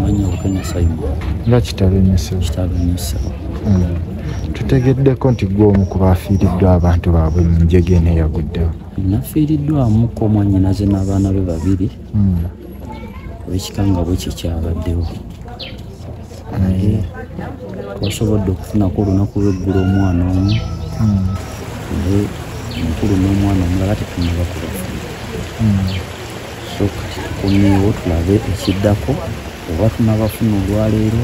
Manya Bukenya Simon. Nga kitalo nnyo ssebo. Kitalo nnyo ssebo. Mm. Tutegeddeko nti gwe omu ku baafiiriddwa abantu baabwe mu njega eno eyaguddewo. Nafiiriddwamuko omwanyinaze n'abaana be babiri. Mm. Ekikangabwe kye kyabaddewo. Naye twasobodde okufunako olunaku lw'eggulu omwana omu. Mm. Naye omukulu n'omwana omulala tetunaba kubafuna. so kati tukomyewo tulabe ekiddako oba tunabafuna olwaleero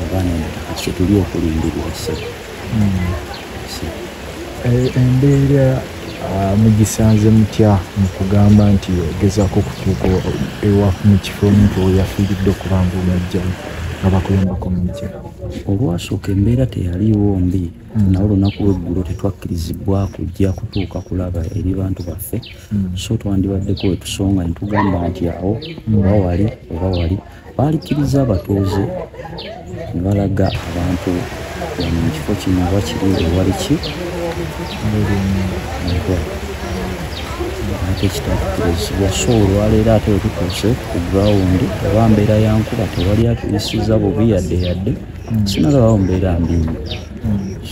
oba nedda kati kyetuli okulindirwa esebo hmm. eh, embeera ah, mugisanze mutya mukugamba nti ogezako okutuuka ewa mu kifo omuntu weyafiiridde okubanga omujjamu nga bakulembako mujja olwasooka embeera teyaliiwo mbi Mm. nawe olunaku lweggulo tetwakkirizibwa kujja kutuuka kulaba eri bantu baffe mm. so twandibaddeko wetusonga netugamba nti awo mm. oba wali oba wali balikkiriza abatuuze nebalaga abantu mukifo kino oba kiri ewali ki ate kitatukkirizibwa so olwaleero ate wetutuuse ku grawundi oba mbeera yankuba tewali atuyisiza bubi yadde yadde sinalabawo mbeera mbi nnyo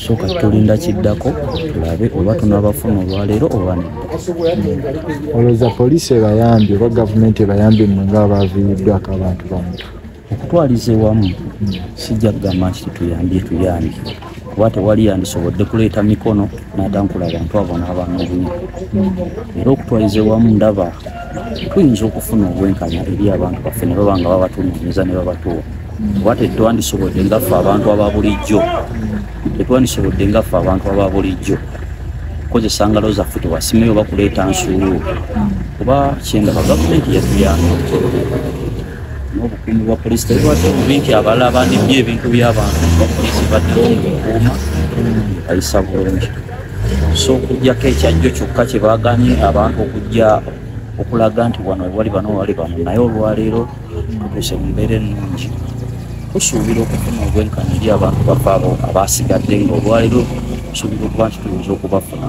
so kati tulinda kiddako tulabe oba tunabafuna olwaleero oba nedda olowooza poliisi ebayambye oba gavumenti ebayambye mmwe nga abaaviiriddwako abantu bamu okutwaliza ewamu sijja kugamba nti tetuyambye tuyambye kuba tewali yandisobodde kuleeta mikono n'atankula abantu abo n'abanoobunya era okutwaliza ewamu ndaba tuyinza okufuna obwenkanya eri abantu baffe ne baba nga babatunonyeza ne babatuwa oba tetwandisobodde ngaffe abantu aba bulijjo tetwandisobodde ngaffe abantu aba bulijjo kukozesa ngalo zaffe tewasimeyo oba kuleeta nsuulu kuba kyendaba gavumenti yatuyamba n'obukuumi bwa polisi tebibadde bubi nti abala bandibye ebintu by'abantu bapolisi baddewo ngaokuuma ayisa bulungi so okujjako ekyajjo kyokka kye baaganye abantu okujja okulaga nti wano wali bano wali bano naye olwaleero tutuuse mu mbeera ennungi tusuubira okufuna obwenkanya eri abantu bafe abo abaasigadde nga olwaleero tusuubira okuba nti tuyinza okubafuna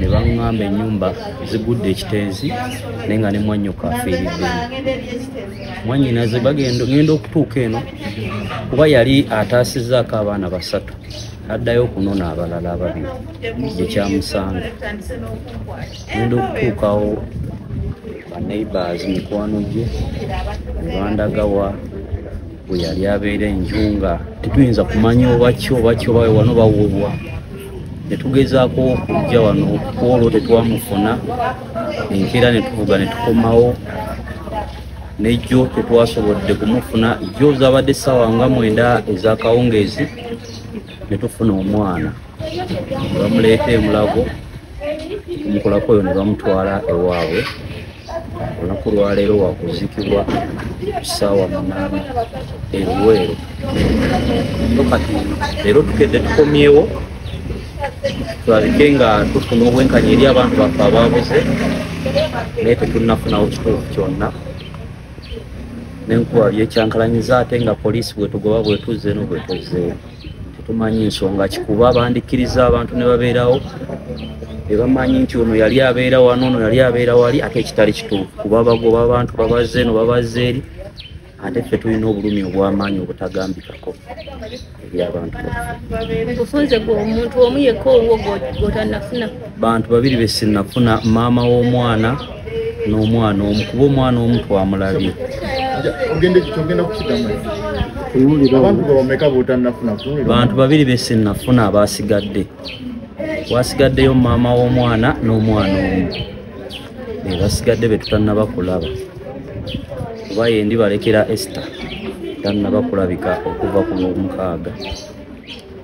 ne baŋŋamba ennyumba zigudde ekitenzi naye nga ne mwannyoko afiiriddemu mwannyinaze bagenda ŋenda okutuuka eno kuba yali ataasizaako abaana basatu addayo okunona abalala ababiri gyekyamusanga ŋenda okutuukawo baneighbors mikwano gye nebandagawa bwe yali abeera enju nga tetuyinza kumanya obaki obaki obawe wano bawulwa netugezaako okujja wano okukwolwo tetwamufuna enkeera netuvuga netukomawo nejjo tetwasobodde kumufuna jjo zabadde ssaawa nga mwenda ezakawungeezi netufuna omwana bamuleeta emulago omukulako oyo ne bamutwala ewaabwe olunaku lwaleero wakuzikibwa kusaawa munaana eruweero so kati leero tukedde tukomyewo tulabike nga tufuna obwenkanya eri abantu baffe ababuze naye tetunafunawo kituufu kyonna nenkuba byekyankalanyiza ate nga poliisi bwetugoba bwetuzze no bwetuzzeewo tetumanyi nsonga kikuba bandikkiriza abantu ne babeerawo ebamanyi nti ono yali abeera wano ono yali abeera wali ate ekitali kituufu kuba bagoba abantu babazze eno babazze eri ate ffe tulina obulumi obwamaanyi obutagambikako ebyabantu ofunze gwe omuntu omu yekka owo gwotanafuna bantu babiri besinafuna maama w'omwana n'omwana omu kuba omwana omu twamulabye bantu babiri besinafuna abasigadde wasigaddeyo maama w'omwana n'omwana omu bebasigadde betutanaba kulaba oba yendi balekera ester tanaba kulabika okuva ku lwomukaaga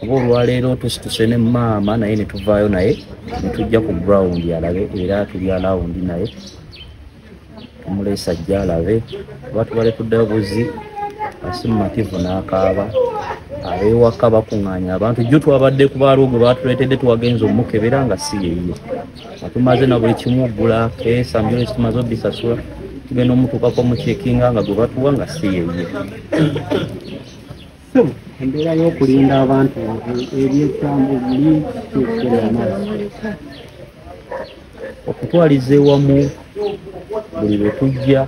kuba olwaleero tusituse ne maama naye netuvaayo naye netujja ku ground alabe era tuli alawundi naye omuleesa ajja alabe kuba tubale kuddayo buzi asi mumativu n'akaaba abewaka bakuŋŋaanya abantu jjo twabadde ku baaliwo gwe baatuleetedde twagenza omukebera nga si yeye atumaze na buli kimu ogula keesa mbyole kitumaze obisasula tugenda omutuukako mukyekinga nga gwe batuwa nga si yeye embeera y'okulinda abantu ebyekyamu okutwaliza ewamu buli lwe tujja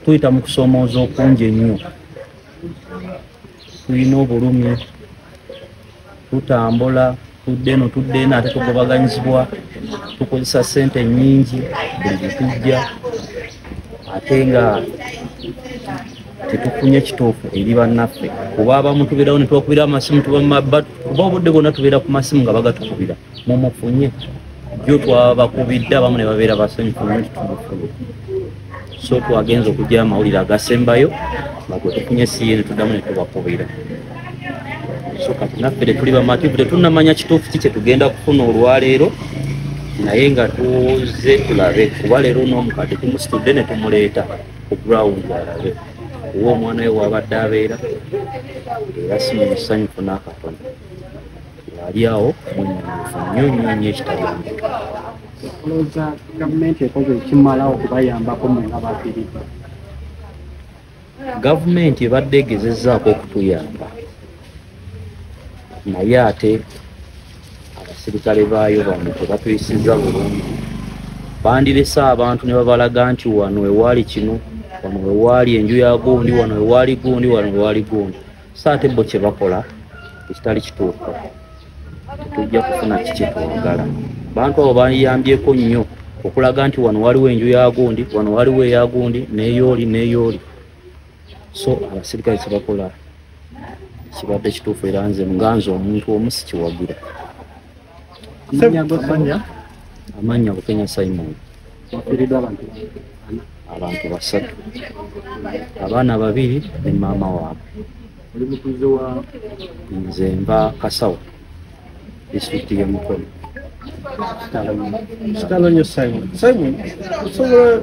tuyita mu kusoomooza okungi ennyo tulina obulumi tutambula tudde eno tudde eno ate tugobaganyizibwa tukozesa sente nyingi buli byetujja ate nga tetufunye kituufu eri bannaffe kuba abamu tubeerawo netubakubira amasimu tuba mumabba kuba obudde bwonna tubeera ku masimu nga bagatukubira mumufunye jo twabakubidde abamu ne babeera basanyufu naye tutubufulu so twagenza okugyayo amawulire agasembayo agwe tufunye siye netuddamu netubakubira so kati naffe tetuli bamativu tetunamanya kituufu ki kyetugenda kufuna olwaleero naye nga tuze tulabe kuba leero n'omukadde tumusitudde ne tumuleeta ku ground alabe owa omwana we waabadde abeera era si mu musanyufu n'akatono ali awo munyufu nnyo nnyo nnyo ekitagambika olowooza gavumenti ekoze ekimala okubayambako mwe nga bafiridde gavumenti ebadde egezezaako okutuyamba naye ate abasirikale baayo bano tebatuyisiza bulungi bandirese abantu ne babalaga nti wano ewaali kino wano wewaali enju ya gundi wano wewaali gundi wano wewaali gundi so ate bo kyebakola ekitali kituufu tetujja kufuna kikyetwagala bantu abo bayambyeko nnyo okulaga nti wano waliwo enju yagundi wano waliwo eyagundi neyooli neyooli so abasirikale kyebakola kibadde kituufu era nze nga nze omuntu omu sikiwagira amanya bukenya simon wafiridwa abantu abantu basatu abaana babiri ne maama waabwe nze mba kasawo disitulikiti yemukono kitalo nyo simon simon osobola